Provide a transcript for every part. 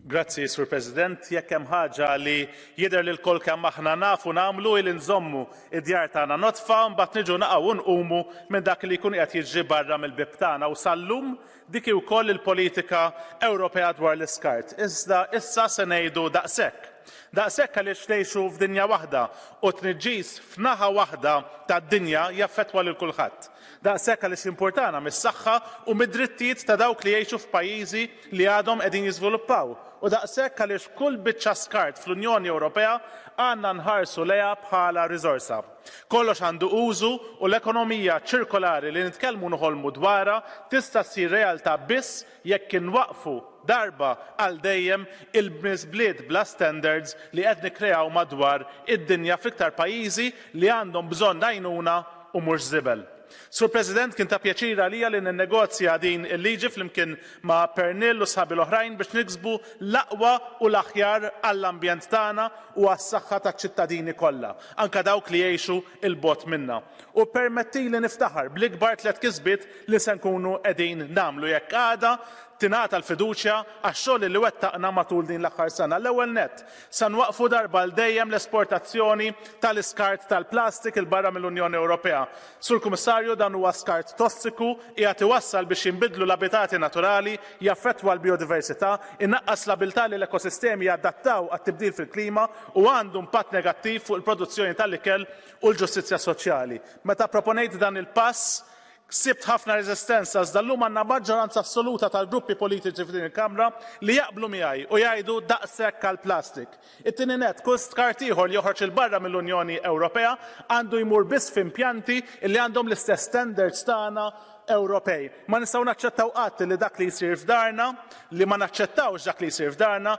Grazzi, Sur President. Jekk hemm ħaġa li jidher li l-kol kemm aħna nafu nagħmlu il nżommu id-djar tagħna notfa mbagħad niġu naqgħu nqumu minn dak li jkun qed jiġri barra mill-bib tagħna u sal-lum dik hi wkoll il-politika Ewropea dwar l-iskart. Iżda issa se ngħidu daqshekk. Daqshekk għaliex ngħixu f'dinja waħda u t-tniġġis f'naħa waħda tad-dinja jaffettwa lil kulħadd. Daqshekk għaliex jimpurtana mis-saħħa u mid-drittijiet ta' dawk li jgħixu f'pajjiżi li għadhom qegħdin jiżviluppaw u daqshekk għaliex kull biċċa skart fl-Unjoni Ewropea għandna nħarsu lejha bħala riżorsa. Kollox għandu użu u l-ekonomija ċirkolari li nitkellmu u noħolmu dwarha tista' ssir realtà biss jekk inwaqqfu darba għal dejjem il-miżbliet bla standards li qed nikkreaw madwar id-dinja fl-iktar pajjiżi li għandhom bżonn għajnuna u mhux żibel. Sur President, kien ta' pjaċir għalija li ninnegozja din il-liġi flimkien ma' Pernille u sħabi l-oħrajn biex niksbu l-aqwa u l-aħjar għall-ambjent tagħna u għas-saħħa taċ-ċittadini kollha, anke dawk li jgħixu 'l bogħod minna. U ppermettili niftaħar bl-ikbar tliet kisbiet li se nkunu qegħdin nagħmlu jekk għada tingħata l-fiduċja għax-xogħol li wettaqna matul din l-aħħar sena. L-ewwel nett, se nwaqqfu darba għal dejjem l-esportazzjoni tal-iskart tal-plastik 'il barra mill-Unjoni Ewropea. Sur Kummissarju, dan huwa skart tossiku, qiegħed iwassal biex jinbidlu l-abitati naturali, jaffettwa l-bijodiversità, inaqqas l-abiltà li l-ekosistemi jadattaw għat-tibdil fil-klima u għandu impatt negattiv fuq il-produzzjoni tal-ikel u l-ġustizzja soċjali. Meta pproponejt dan il-pass, Ksibt ħafna reżistenza iżda llum għandna maġġoranza assoluta tal-gruppi politiċi f'din il-Kamra li jaqblu miegħi u jgħidu daqshekk għall-plastik. It-tieni nett, kull skart ieħor li joħroġ 'il barra mill-Unjoni Ewropea għandu jmur biss f'impjanti li għandhom l-istess standards tagħna Ewropej. Ma nistgħu naċċettaw qatt li dak li jsir f'darna, li ma naċċettawx dak li jsir f'darna,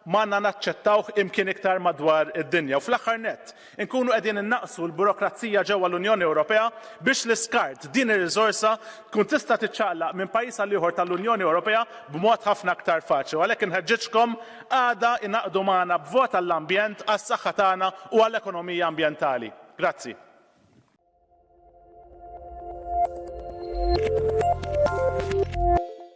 m'għandna naċċettawh imkien iktar madwar id-dinja u fl-aħħar nett, inkunu qegħdin innaqqsu l-burokrazija ġewwa l-Unjoni Ewropea biex l-iskart, din ir-riżorsa, tkun tista' tiċċaqlaq minn pajjiż għal ieħor tal-Unjoni Ewropea b'mod ħafna aktar faċli u għalhekk inħeġġiġkom għada ingħaqdu magħna b'vot għall-ambjent, għas-saħħa tagħna u għal ekonomija ambjentali. Grazzi.